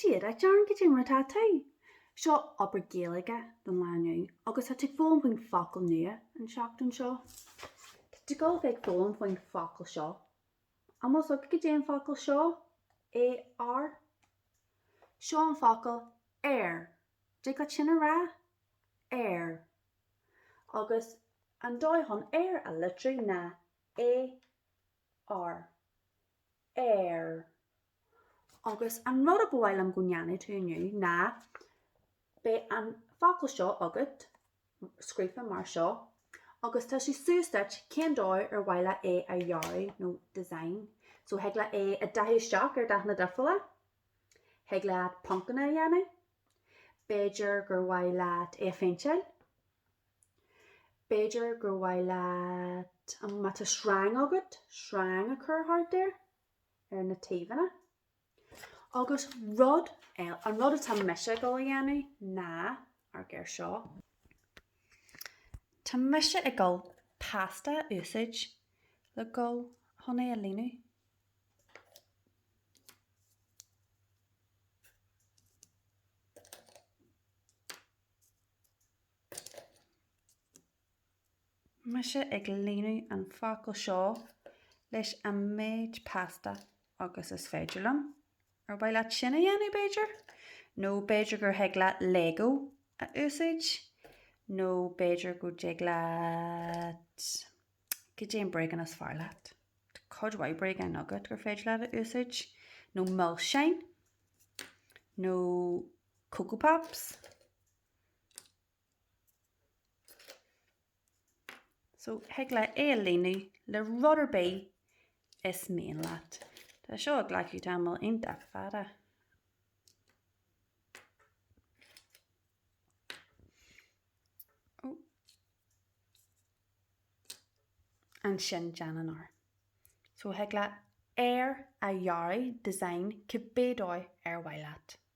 Dia duit, goidé mar atá tú? Seo obair Gaeilge don lá inniu agus tá tú ag foghlaim faoin focal nua an tseachtain seo. Tá tú ag gabháil a bheith ag foghlaim faoin focal seo. An bhfuil a fhios agat goidé an focal seo? A R Seo an focal ar dtig leat sin a rá? Ar Agus an dóigh chun Ar a litriú ná A. R, ar. Agus an rud a ba mhaith liom go ndéanfadh tú inniu ná, beidh an focal seo agat, scríofa mar seo, agus tá sé suas duit féin cén dóigh ar mhaith leat é a dhearadh nó design. So thig leat é a dathú isteach ar dathanna difriúla, thig leat poncanna a dhéanamh, B'fhéidir gur mhaith leat é a phéinteáil? B'fhéidir gur mhaith leat, má tá sreang agat, sreang a chur thart air, ar na taobhanna. Agus rud eile, an rud atá mise ag gabháil a dhéanamh ná, amharc air seo, tá mise ag gabháil pasta a úsáid le gabháil chun é a líonadh. Mise ag líonadh an focal seo leis an méid pasta agus is féidir liom. Ar mhaith leat sin a dhéanamh, b'fhéidir? Nó b'fhéidir gur thig leat Lego a úsáid? Nó b'fhéidir go dtig leat. Goidé an bréagán is fearr leat? Tá cuid mhaith bréagáin agat gur féidir leat a úsáid, nó milseáin, nó Coco Pops. So, thig leat é a líonadh le rud ar bith is mian leat. Tá seo ag glacadh tamall iontach fada. ansin déanann ar. So thig leat ar a dhearadh, design, cibé dóigh ar mhaith leat.